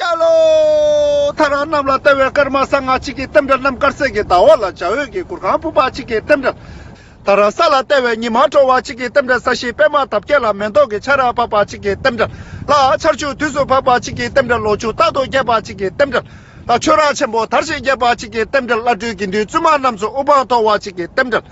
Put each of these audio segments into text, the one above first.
སྐྱ་ལོ། ཐ་ར་གནམ་ལ་བལྟ་བའི་སྐར་མ་གསང་སྔགས་གཅིག་གི་སྟེང་དགྲ་གནམ་དཀར་སེར་གྱི་ཟླ་བ་ལ་འཇའ་འོད་ཀྱི་གུར་ཁང་སྤུ་འབག་གཅིག་གི་སྟེང་དགྲ། ཐ་ར་ས་ལ་བལྟ་བའི་ཉི་མ་དྲོ་བ་གཅིག་གི་སྟེང་དགྲ་ས་གཞིའི་པདྨ་འདབ་བརྒྱད་ལ་མེ་ཏོག་གི་ཆར་ར་བབས་པ་གཅིག་གི་སྟེང་དགྲ། ལ་ཆར་ཆུ་དུས་སུ་བབས་པ་གཅིག་གི་སྟེང་དགྲ་ལོ་ཆུ་རྟག་ཏུ་རྒྱས་པ་གཅིག་གི་སྟེང་དགྲ། ལ་ཆོས་ར་ཆེན་པོ་དར་ཞིང་རྒྱས་པ་གཅིག་གི་སྟེང་དགྲ་བླ་སྤྲུལ་དགེ་འདུན་བཙུན་མ་རྣམས་སུ་དབུ་འཕང་མཐོ་བ་གཅིག་གི་སྟེང་དགྲ།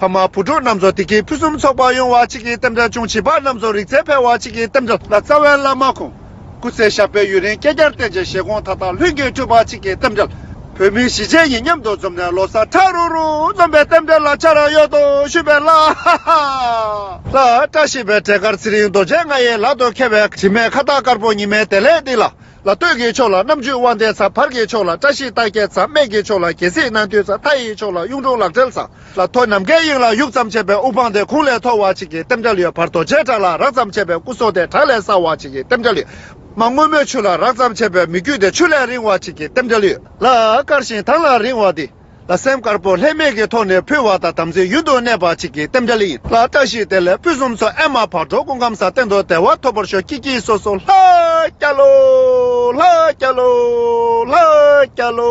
ཕ་མ་བུ་ཕྲུག་རྣམས་ཚོ་དེ་གའི་ཕུན་སུམ་ཚོགས་པ་ཡོང་བ་བྱེད་ཀྱི་གཏམ་འདྲ་ཅུང་བྱིས་པ་རྣམས་ཚོ་རིག་རྩལ་འཕེལ་བ་བྱེད་ཀྱི་གཏམ་འདྲ་ལ་རྩ་བའི་བླ་མ་ཁོང་སྐུ་ཚེ་ཞབས་པད་ཡུན་རིང་བསྐལ་བརྒྱར་བརྟན་ཅིང་བཞེད་དགོངས་མཐའ་དག་ལྷུན་གྱིས་གྲུབ་པ་བྱེད་ཀྱི་གཏམ་འདྲ་བོད་མི་གཞིས་བྱེས་གཉིས་མཉམ་དུ་འཛོམས་ནས་ལོ་སར་ཁྲ་རུག་རུག་འཛོམས་པའི་གཏམ་འདྲ་ལ་ཆ་ར་ཡོད་དོ་ཞུས་པའི་ལྷ་ཧ་ཧ། ལྷ་བཀྲ་ཤིས་པའི་གྲལ་དཀར་ཚེ་རིང་རྡོ་རྗེ་ལྔ་ཡི་ལག་ཏུ་ཁེལ་བའི་དྲི་མེད་ཁ་བཏགས་དཀར་པོ་ཉི་མའི་དལ་ལེ་འདི་ལ་ལ་སྟོད་ཀྱི་ཕྱོགས་ལ་རྣམ་བཅུ་དབང་ལྡན་ཚ་བར་གྱི་ཕྱོགས་ལ་བཀྲ་ཤིས་རྟགས་བརྒྱད་ཚ་སྨད་ཀྱི་ཕྱོགས་ལ་རྒྱལ་སྲིད་སྣང་མཐུ་ཚ་མཐའ་ཡི་ཕྱོགས་ལ་གཡུང་དྲུང་ལག་བྲེལ་ཚ་ལ་ཐོ་ནམ་མཁའི་དབྱིངས་ལ་ཡུག་ཙམ་ཆད་པའི་དབུ་འཕང་སྟེ་ཁུང་ལས་ཐོ་བ་ཅིག་གི་ལྟེམ་སྒྲ་ལུས་བར་རྡོ་རྗེའི་བྲག་ལ་རགས་ཙམ་ཆད་པའི་སྐུ་སྲོག་སྟེ་བྲག་ལས་སྲ་བ་ཅིག་གི་ལྟེམ་སྒྲ་ལུས། མ་སྔོན་མོའི་ཆུ་ལ་རགས་ཙམ་ཆད་པའི་མི་བརྒྱུད་དེ་ཆུ་ལས་རིང་བ་ཅིག་གི་ལྟེམ་སྒྲ་ལུས། ལ་དཀར་ཞིང་ཐང་ལ་རིང་བ་སྟེ། ལ་སེམས་དཀར་པོ་ལྷད་མེད་ཀྱི་ཐོག་ནས་ཕུལ་བ་དང་དམ་ཚིག་ཡུན་དུ་གནས་པ་ཅིག་གི་རྟེན་འབྲེལ་ཡིན་ལ་བཀྲ་ཤིས་བདེ་ལེགས་ཕུན་སུམ་ཚོགས་ཨེ་མ་བག་གྲོ་ཀུན་ཁམས་ས་སྟེང་དུ་བདེ་བ་ཐོབ་པར་ཤོག་སྐྱིད་སྐྱིད་སོ་སོ་ལྷ་སྐྱ་ལོ། ལྷ་སྐྱ་ལོ། ལྷ་སྐྱ་ལོ།